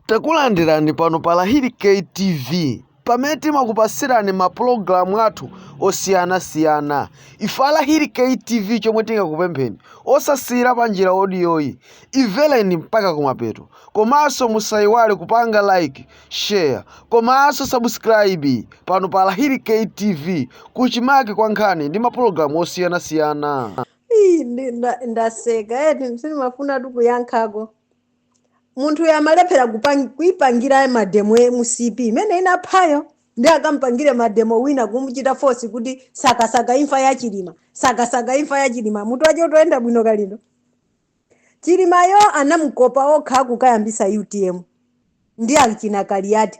Takulandirani pano pa Lahiri K TV pamene timakupasirani ma program athu osiyana siyana ife a Lahiri K TV chomwe tingakupempheni osasiyira panjira odiyoyi imvereni mpaka kumapeto komanso musayiwale kupanga like share komanso subscribe pano pa Lahiri K TV kuchimake kwa nkhani ndi ma program osiyana siyana Ii, ndi- nda- ndaseka eti sindimafuna tu kuyankhako munthuyo walephera kupang- kuipangira mademo ya mcp imene inaphayo ndi akampangire mademo wina kumuchita force kuti asakasake imfa ya chilima asakasake imfa ya chilima mutu wache ukuyenda bwino kalindo chilimayo anamukopa okha kukayambisa utm ndi achina kaliyati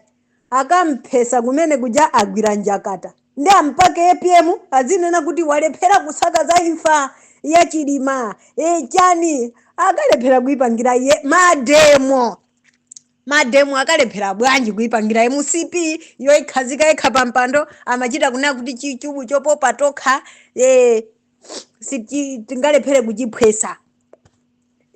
Akamphesa kumene kuja agwira njakata ndi ampake apm azinena kuti walephera kusakasaka imfa ya chilima ee chani akalephera kuipangira iye mademo mademo akalephera bwanji kuipangira mcp yoikhazika yekha pa mpando amachita kunena kuti chichubu chopopa tokha ee sitingalephere kuchiphwesa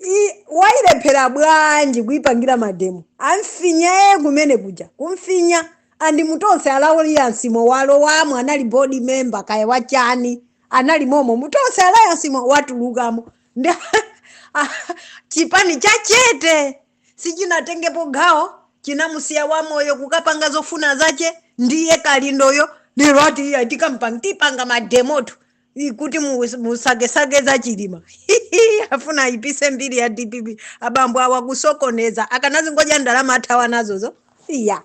I, wailephera bwanji kuipangira mademo amfinya iye kumene kuja kumfinya and mu tonse alliance mo walowamo anali board member kaya wachani anali momo mu tonse alliance mo watulukamo ndi chipani chachete sichinatengepo gawo chinamusiya wamoyo kukapanga zofuna zache ndiye kalindoyo lero ati iya tikapanga tipanga mademotu i- kuti mus- musakesake za chilima afuna ayipise mbiri ya dpp abambo awa kusokoneza akanazingodya ndalama athawa nazozo iya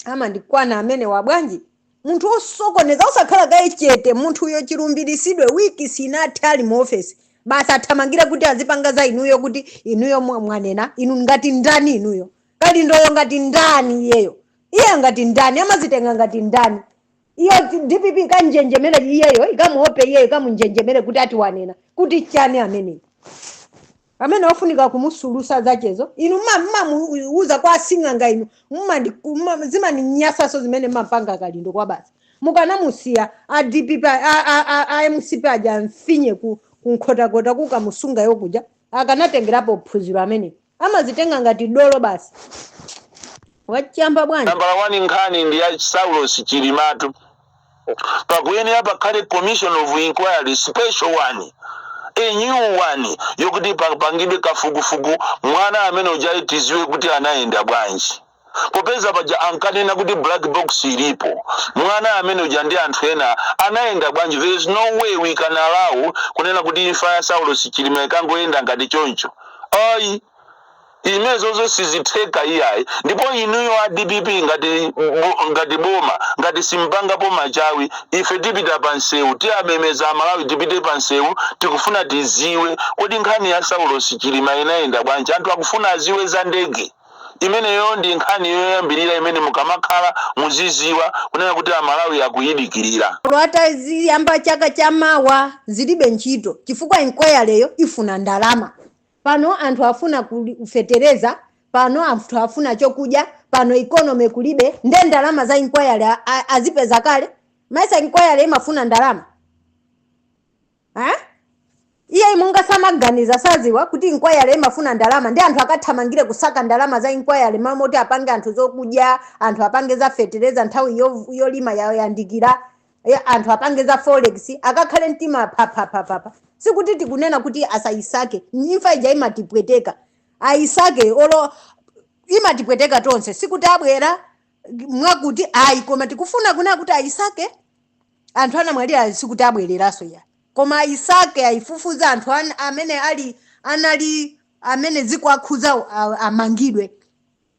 amandikwana amene wabwanji munthu osokoneza osakhala kaye chete munthuyo chilumbiritsidwe wiki sinathe ali mu ofesi basi athamangira kuti azipanga za inuyo kuti inuyo mwa- mwanena inu ngati ndani inuyo kalindoyo ngati ndani iyeyo iye ngati ndani amazitenga ngati ndani Iyo dpp ikanjenjemere iyeyo ikamuope iyeyo ikamunjenjemere kuti ati wanena kuti chani ameneyi amene ofunika kumusulusa zachezo inu mmamuuza kwa asing'anga inu zimaninyasaso zimene mmapanga kalindo koma basi mukanamusiya a dpp a mcp aja amfinye ku nkhotakota kukamusunga iyo kuja akanatengerapo phunziro ameneyi amazitenga ngati dolo basi. Wachamba bwanji. Nambala wani nkhani ndi ya Saulos Chilimatu. Pakuyenera pakhale commission of inquiry special one, a new one yokuti papangidwe kafukufuku mwana amene ujayu tiziwe kuti anayenda bwanji. Popeza paja ankanena kuti black box ilipo, mwana ameneuja ndi anthu ena anayenda bwanji? There is no way we can allow kunena kuti imfa ya Saulos Chilima ikangoyenda ngati choncho. Ayi, imezozo sizitheka iyayi. Ndipo inuyo a dpp ngati, bo, ngati boma ngati simpangapo machawi, ife tipita pa msewu, tiwamemeza Amalawi tipite pa msewu, tikufuna tiziwe kodi nkhani ya Saulos Chilima inayenda bwanji? Anthu akufuna aziwe za ndege. Imeneyo ndi nkhani yoyambirira imene mukamakhala muziziwa kunena kuti a Malawi akuyidikirira. Olo ataziyamba chaka cha mawa zilibe ntchito chifukwa inquiry yo ifuna ndalama. Pano anthu afuna fetereza, pano anthu afuna chokudya, pano economy kulibe nde ndalama za inquiry azipeza kale? Mesa inquiry imafuna ndalama? eh? iyeyu mwina samaganiza saziwa kuti inquiry imafuna ndalama nde anthu akathamangire kusaka ndalama za inquiry malo moti apange anthu zokudya anthu apange za fetereza nthawi yo- yolima yayandikira eh, anthu apange za forex akakhale mtima papapapapa sikuti tikunena kuti asayisake imfa ija imatipweteka ayisake olo imatipweteka tonse sikuti abwera mwakuti ayi koma tikufuna kunena kuti ayisake anthu anamwalira sikuti abwereranso iyayi koma ayisake ayifufuze anthu an, amene ali anali amene zikuwakhudzawo amangidwe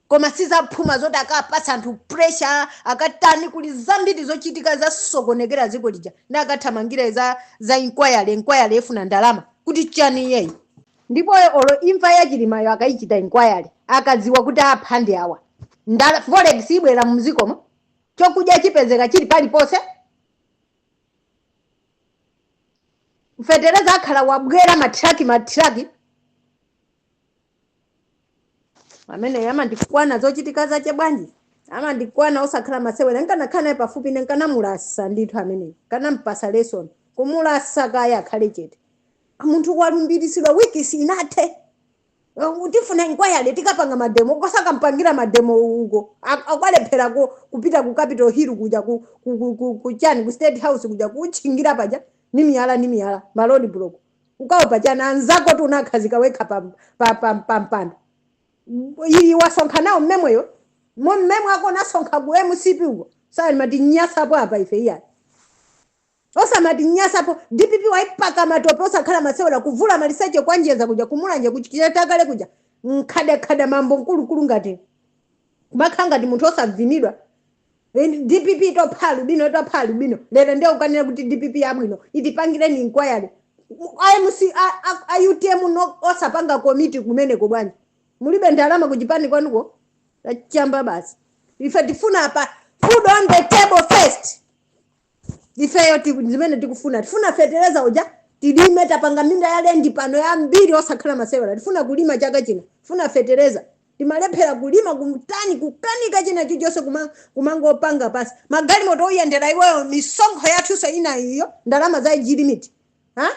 koma sizaphuma zoti akapatsa anthu pressure akatani kuli zambiri zochitika zasokonekera dziko lija nde akathamangire za za inquiry inquiry ifuna ndalama kuti chani iyeyu ndipo olo imfa ya chilimayo akayichita inquiry akadziwa kuti apha ndi awa nde forex ibwera mudzikomo chokudya chipezeka chili paliponse fetereza akhala wabwera matraki matraki ameneyu amandikwana zochitika zache bwanji amandikwana osakhala masewera nkanakhala naye pafupi ine nkanamulasa ndithu ameneyo nkanampasa lesson kumulasa kaye akhale chete munthu walumbiritsidwa wiki siinathe Uh, tifuna inquiry tikapanga mademo osakapangira mademo uko Ak- akwalephera ku- kupita ku capital hill kuja ku, ku, ku, ku, ku chani ku state house kuja kutchingira paja ni miyala ni miyala ma road block ukawo pachani anzako oti unakhazika wekha pa, pa, pa, pa mpando iyi wasonkha nawo mmemweyo mo mmemwe wako unasonkha ku mcp uko samatinyasapo apa ife iyayi Osamatinyasapo dpp waipaka matope osakhala masewera kuvula maliseche kwa njeza kuja kumulanje kuchikira takale kuja nkhadakhada mambo munthu wamkulukulu ngati kumakhala ngati munthu osavinidwa And dpp itopha alubino itopha alubino lero ndiye ukanena kuti dpp yabwino itipangireni inquiry amc a- a- a utm no osapanga komiti kumeneko bwanji mulibe ndalama kuchipani kwanuko achamba basi ife tifuna apa food on the table first ifeyo tiku- zimene tikufuna tifuna fetereza uja tilime tapanga minda ya lendi pano yambiri osakhala masewera tifuna kulima chaka chino tifuna fetereza timalephera kulima kuntani kukanika china chilichonse kuma- kumangopanga pasi magalimoto oyendera iweyo misonkho yathunso ina iyo ndalama za age limit ha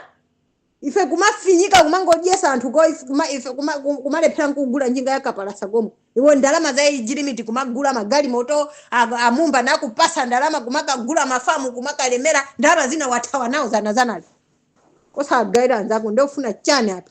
ife kumafinyika kumangodyesa anthu koma ife kuma, ife kuma, kum- kumalephera kugula njinga ya kapalasa koma iwo ndalama za age limit kumagula magalimoto a- amumba nakupasa ndalama kumakagula mafamu kumakalemera ndalama zina wathawa nawo zanazanazi osagaira anzako ndiye ufuna chani apa